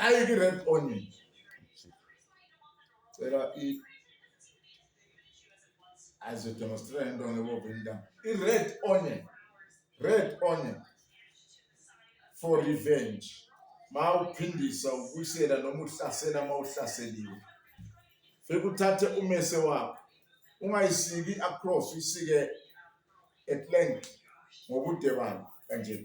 Ayi ki red onion. Cela i azo demonstrate into ngebo binda. I red onion. Red onion for revenge. Mawuphindisa ubuyisela noma uhlasela mawuhlaseliwe. Fika uthathe umese wakho. Ungayisiki across isike at length ngobude bayo kanje.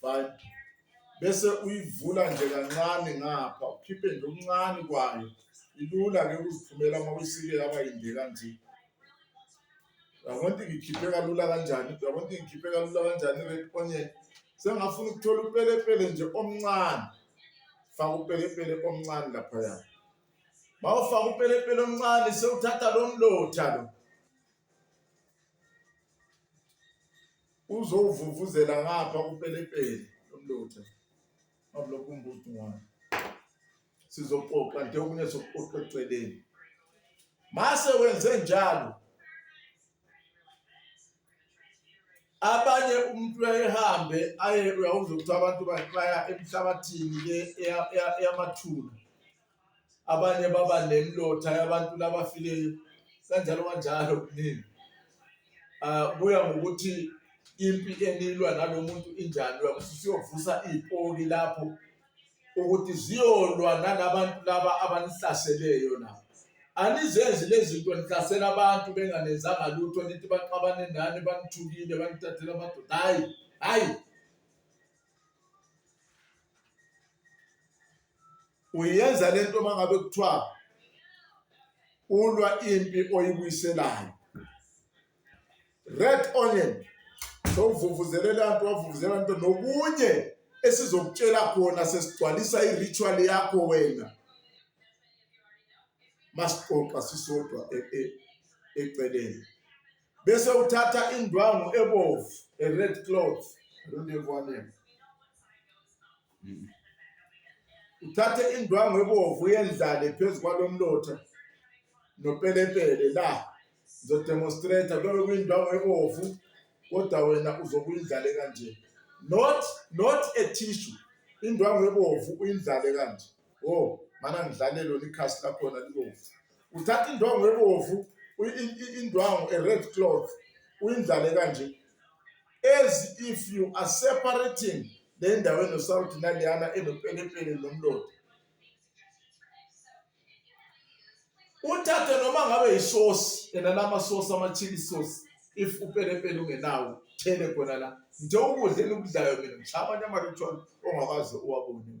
fine bese uyivula nje kancane ngapha ukhiphe nje okuncane kwayo ilula ke ukuziphumela uma uyisike yaba yinde kanje yabona ukuthi ngikhiphe kalula kanjani yabona ukuthi ngikhiphe kalula kanjani red onion sengafuna ukuthola upelepele nje omncane faka upelepele omncane laphaya mawufaka upelepele omncane sewuthatha lo mlotha lo uzowuvuvuzela ngapha kupelepele lomlotha abulokhu umbuzo ngwana sizoxoxa nje okunye sokuxoxa eceleni mase wenze njalo abanye umuntu uyayihambe aye uyawuzwa ukuthi abantu baya emhlabathini eyamathuna abanye baba nemlotha yabantu labafileyo kanjalo kanjalo kuningi um kuya ngokuthi impi enilwa nalo muntu injani uyakuthi usuyovusa iy'poki lapho ukuthi ziyolwa nalabantu laba abanihlaseleyo na anizenzi lezi zinto nihlasela abantu benganenzanga lutho nithi baxabane nani banithukile banithathela amadoda hhayi hhayi uyenza lento mangabe kuthiwa ulwa impi oyibuyiselayo red onion sowuvuvuzelela nto wavuvuzela nto nokunye esizokutshela khona sesigcwalisa i-ritual yakho wena masixoxa sisodwa e, e, eceleni bese uthatha indwangu ebovu a red cloth i don't have one here uthathe indwangu ebovu uyendlale phezu kwalomlotha nopelepele la ngizodemonstrate kuyobe kuyindwangu ebovu kodwa wena uzokuyindlale kanje not not a tissue indwangu ebovu uyindlale kanje o oh, mana ngidlale lona ikhasi lakhona libomvu uthatha indwangu ebomvu indwangu e-red cloth uyindlale kanje as if you are separating le ndawo enosawuthi naleyana enopelepele nomlodi uthathe noma ngabe yisosi yena lamasosi ama-chili sosi if upelepele ungenawo thele khona la nje ukudla enikudlayo mina ngishaya amanye ama-ritual ongakwazi uwabone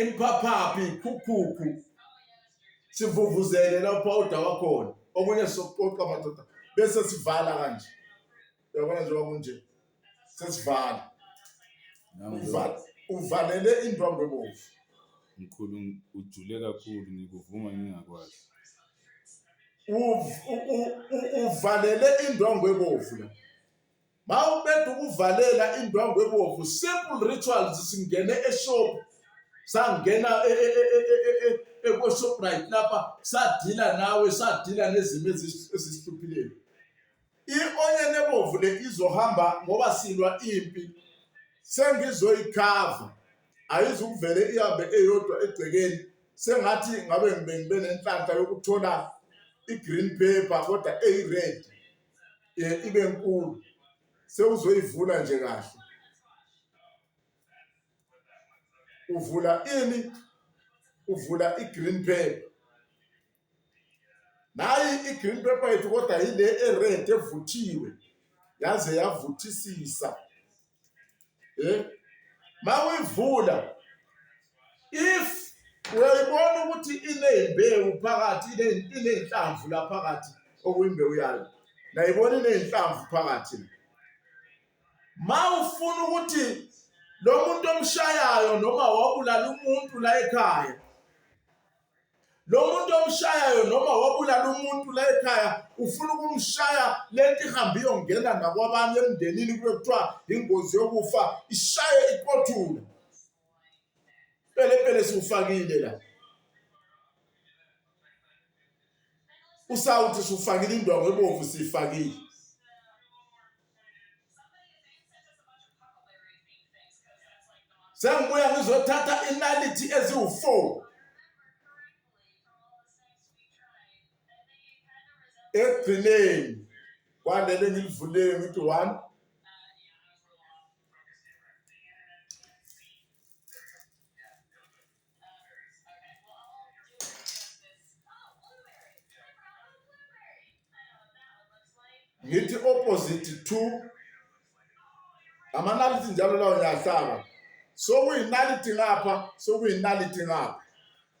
imphaphapi ikhukhukhu sivuvuzele lapho awuda wakhona okunye sokuqoqa madoda bese sivala kanje uyabona njengoba kunje sesivala uvalele indwangu ebomvu mkhulu ujule kakhulu ngikuvuma ngingakwazi uvalele indwangu ebomvu la Mawuqeda ukuvalela indwangu ebomvu simple rituals singene eshop sangena e, e, e, ekoshoprite lapha sadila nawe sadila nezimo ezisihluphileni i-onyeni ebomvu le izohamba ngoba silwa impi sengizoyikhava ayizukuvele ihambe eyodwa egcekeni sengathi ngabe ngibe nenhlanhla yokuthola i-green paper kodwa eyi-red um ibe nkulu sewuzoyivula nje kahle uvula ini uvula i-green paper nayi i-green paper yethu kodwa yile e-red evuthiwe yaze yavuthisisa eh mawuyivula if uyayibona ukuthi inezimbewu phakathi inenhlamvu la phakathi okuyimbewu yayo ngayibona inenhlamvu phakathi mawufuna ukuthi lo muntu omshayayo noma wabulala umuntu la ekhaya lo muntu omshayayo noma wabulala umuntu la ekhaya ufuna ukumshaya le nto ihambe iyongena nakwabanye emndenini kube kuthiwa ingozi yokufa ishaye iqothule pelepele siwufakile la usawuthi siwufakile indwango ebomvu siyifakile sengibuya ngizothatha inalithi eziwu-four ekugcineni kwalele ngilivulele ngithi one ngithi opposite to amanaliti njalo lawo ngiyahlaba sokuyinaliti ngapha sokuyinaliti ngapha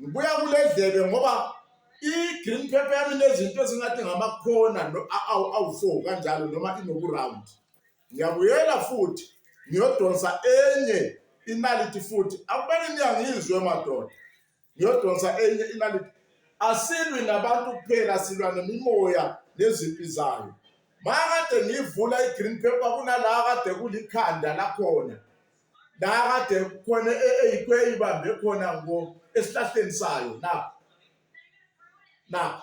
ngibuya kule dlebe ngoba i-green paper yami nezinto ezingathi ngamakhona awu-four kanjalo noma inokuround Ngiyabuyela futhi ngiyodonsa enye inaliti futhi. Akubani niyangizwe madoda. Ngiyodonsa enye inaliti. Asilwi nabantu kuphela silwa nemimoya nezimpi zayo. Makade ngivula i-green paper kunala kade kulikhanda lakhona. La kade khona eyikweyi bambe khona ngo esihlahleni sayo na. Na.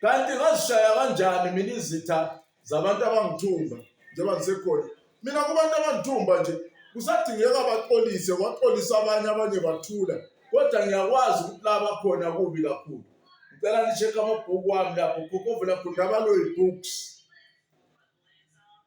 kanti ngazishaya kanjani mina izitha zabantu abangithumba njengoba ngisekhona mina kubantu abangithumba nje kusadingeka baxolise waxolisa abanye abanye bathula kodwa ngiyakwazi ukuthi la bakhona kubi kakhulu ngicela nishekhe amabhuku wami lapho khokhovela khundabaloyi books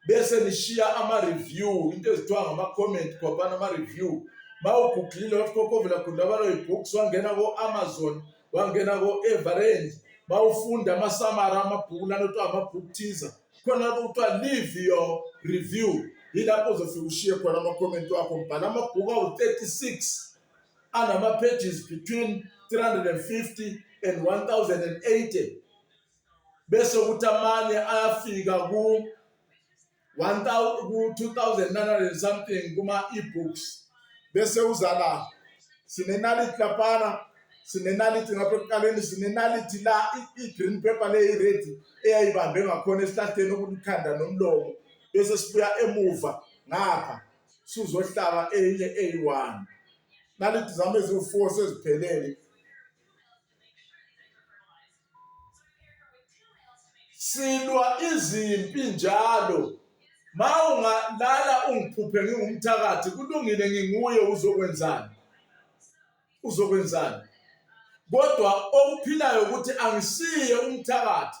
bese nishiya ama-review into ezithiwa ngama-comment khwaphana ama-review ma ugugulile wathi kokovela gundabaloyi books wangena ko-amazon wangena ko-everend ma ufunda amasamara amabhuku lana kuthiwa ama-book teaser khona lapho kuthiwa leave your review yilapho uzofika ushiye khona amakhomenti wakho mbhala amabhuku awu-36 anama-pages between 350 and 1080 bese ukuthi amanye ayafika ku 2900 something kuma ebooks bese uzala sinenality lapana sinenality ngapha ekuqaleni sinenality la i-green paper le i-red eyayibambe ngakhona esihlahleni okulikhanda nomlomo bese sibuya emuva ngapha sizohlaba enye eyi-one nality zami eziwu-four seziphelele silwa izimpi njalo ma ungalala ungiphuphe ngingumthakathi kulungile nginguye uzokwenzani uzokwenzani kodwa okuphilayo ukuthi angisiye umthakathi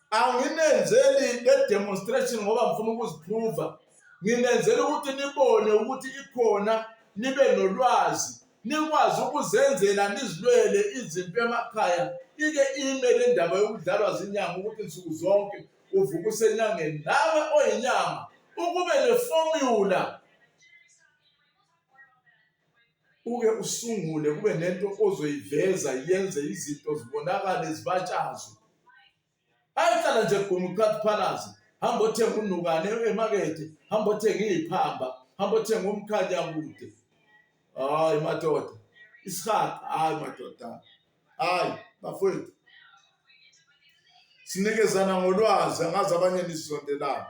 anginenzeli le demonstration ngoba ngifuna ukuziphruva nginenzela ukuthi nibone ukuthi ikhona nibe nolwazi nikwazi ukuzenzela nizilwele izimpi emakhaya ike ime le ndaba yokudlalwa zinyanga ukuthi nsuku zonke uvuka usenyangeni nawe oyinyanga ukube nefomula uke usungule kube nento ozoyiveza yenze izinto zibonakale zibatshazwe ayihlala nje guma uqathiphalaze hamba othenga unukane emakethe hamba othenga iyiphamba hamba othenga umkhanyakude hayi madoda isihaqa hayi madoda hayi bafowethu sinikezana ngolwazi angazi abanye nisondelana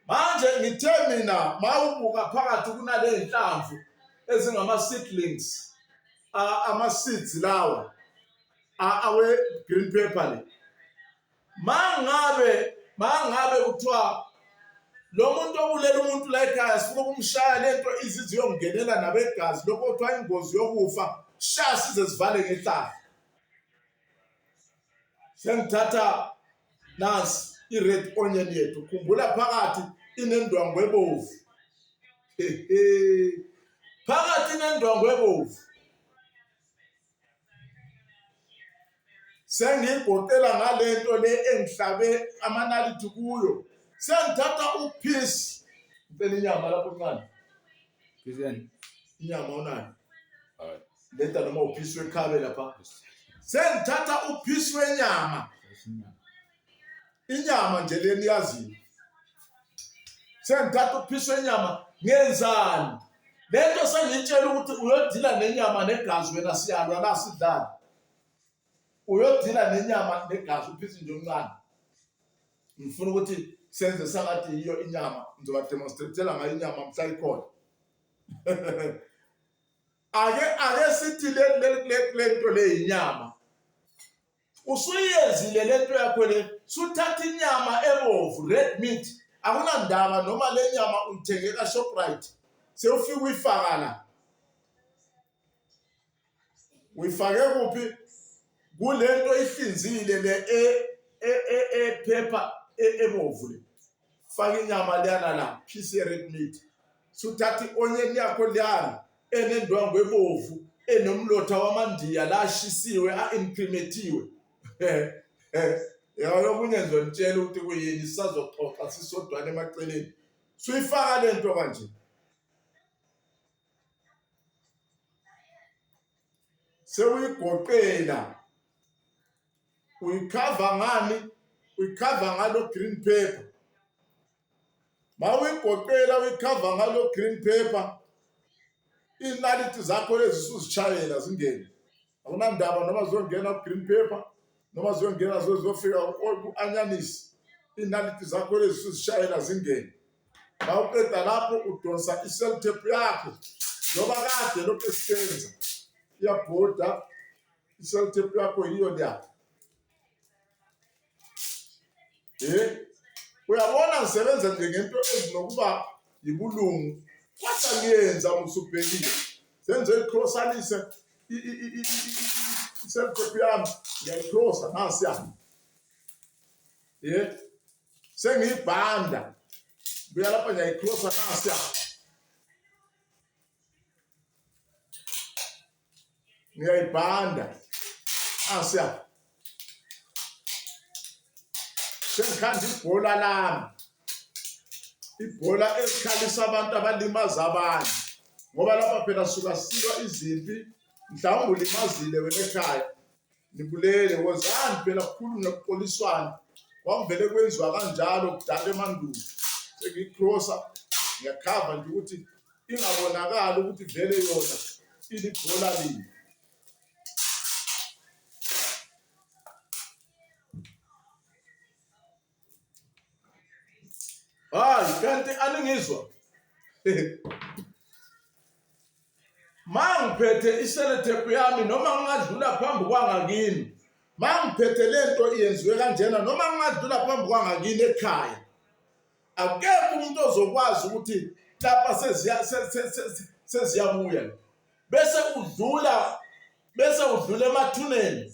manje ngithe mina mawubuka phakathi kunale nhlamvu ezingama seedlings ama seeds lawa awe green pepper le Mangabe mangabe kuthiwa lo muntu obulela umuntu la ekhaya sifuna ukumshaya lento izizi yongenela nabegazi lokho kuthiwa ingozi yokufa sha size sivale ngehlala sengithatha nansi i-red onion yethu khumbula phakathi inendwangu ebovu phakathi inendwangu ebovu sengiyigoqela ngale nto le engihlabe amanaliti kuyo sengithatha uphisi ngicela inyama lapho ncane inyama unayo leta noma uphisi wekhabe lapha sengithatha uphisi wenyama inyama nje leni yazini sengithatha ukuphiswa inyama ngenzani lento sengiyitshela ukuthi uyodila nenyama negazi wena siyalwa la sidlala uyodila nenyama negazi uphisa nje omncane ngifuna ukuthi senze sangathi yiyo inyama ngizoba demonstratela ngayo inyama mhla ikhona ake ake sithi lento le inyama usuyiyenzile lento yakho le suthatha inyama ebovu red meat akunandaba noma le nyama uyithenge ka-shoprite sewufike uyifaka la uyifake kuphi kule nto ihlinzile le ephepha e, e, e, ebovu le faka inyama liyana la piece ye red meat suthatha i-onion yakho liyana enendwangu ebovu enomlotha wamandiya lashisiwe a-imprimethiwe yabo okunye nje ngitshela ukuthi kuyini sisazoxoxa sisodwana emaceleni suyifaka le nto kanje sewuyigoqela uyikhava ngani uyikhava ngalo green paper ma uyigoqela uyikhava ngalo green paper iinaliti zakho lezi suzitshayela zingene akunandaba noma ziyongena ku-green paper noma ziyongena ziyofika ku-anyanisi iinaliti zakho lezi suzitshayela zingene ma uqeda lapho udonsa i-seltep yakho njengoba kade lokhu esisenza iyabhoda Self tape yakho yiyo leya. Eh? Uyabona ngisebenza nje ngento ezinokuba yibulungu. Kodwa ngiyenza musubhekile. Senze icrossanise i i i i self tape yami ngiyayicrossa nasi ya. Eh? Sengiyibhanda. Buya lapha ngiyayicrossa nasi ya. ngiyayibhanda asiya ah, sengikhanda ibhola lami ibhola elikhalisa abantu abalimaza abanye ngoba lapha phela suka silwa izimpi mhlawumbe ulimazile wena ekhaya Nibulele wozani phela kukhulu nokuxoliswana kwakuvele kwenziwa kanjalo kudala emandulo sengiyikrosa ngiyakhava nje ukuthi ingabonakali ukuthi vele yona ilibhola lini hayi kanti aningizwa mangiphethe iselethephu yami noma ngingadlula phambi kwangakini mangiphethe lento yenziwe kanjena noma ngingadlula phambi kwangakini ekhaya akekho umuntu ozokwazi ukuthi lapha seziyabuya bese udlula bese udlula emathuneni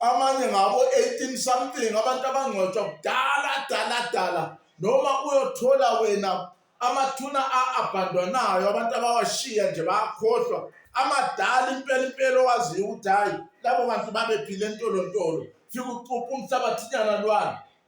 amanye ngabo 18 something abantu abangcwatshwa kudala dala dala noma uyothola wena amathuna a-abhandwanayo abantu abawashiya nje bayakhohlwa amadala impela impela owaziyo ukuthi hhayi labo bantu babephile entolontolo fike ucuphe umhlabathinyana lwana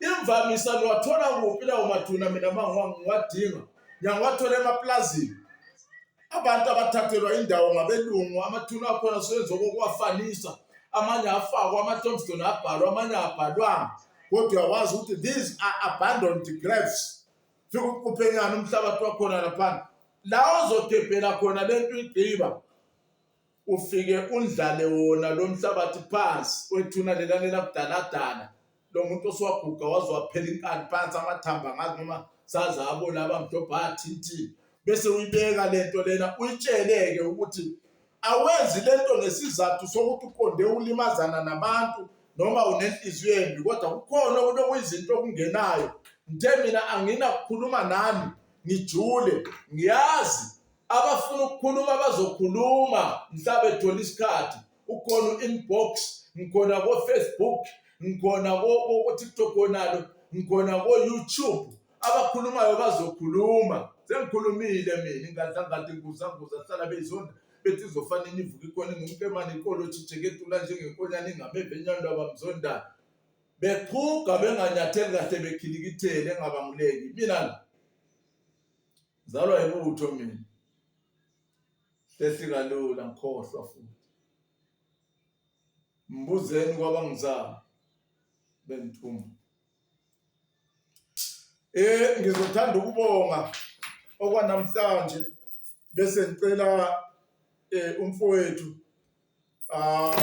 Imvamisa niwathola kuphi lawo mathuna mina uma ngiwadinga? Ngiyawathola emaplazini. Abantu abathathelwa indawo ngabelungu, amathuna akhona siwenza okokuwafanisa. Amanye afakwa ama-tombstone abhalwa, amanye abhalwanga. Kodwa uyawazi ukuthi these are abandoned graves. Fika uquphenyana umhlabathi wakhona lapha. La ozogebhela khona le nto igqiba ufike undlale wona lo mhlabathi phansi wethuna lela lela kudaladala lo muntu oswaguga waze waphela inkani phansi amathamba ngazi noma saze abo laba mdobhathi ithi bese uyibeka lento lena uyitsheleke ukuthi awenzi lento ngesizathu sokuthi uqonde ulimazana nabantu noma unenhliziyo embi kodwa kukhona ukuthi okuyizinto okungenayo ngithe mina anginakukhuluma nani ngijule ngiyazi abafuna ukukhuluma bazokhuluma mhla bethola isikhathi ukhona u-inbox ngikhona ko-facebook ngikhona ko-tiktok konalo ngikhona ko-youtube abakhulumayo bazokhuluma sengikhulumile mina ingadlangathi nguzanguza hlala beyizonda bethi izofanele ivuke ikhona ngumkemane iqolo thitheketula njengenkonyana ingameve enyando abamzondayo beqhuga benganyatheli kahle bekhilikithele engabanguleki mina Ngizalwa yibutho mina. Hlehli kalula ngikhohlwa futhi. Mbuzeni kwabangizala bengithuma. Eh ngizothanda ukubonga okwanamhlanje bese ngicela eh umfowethu ah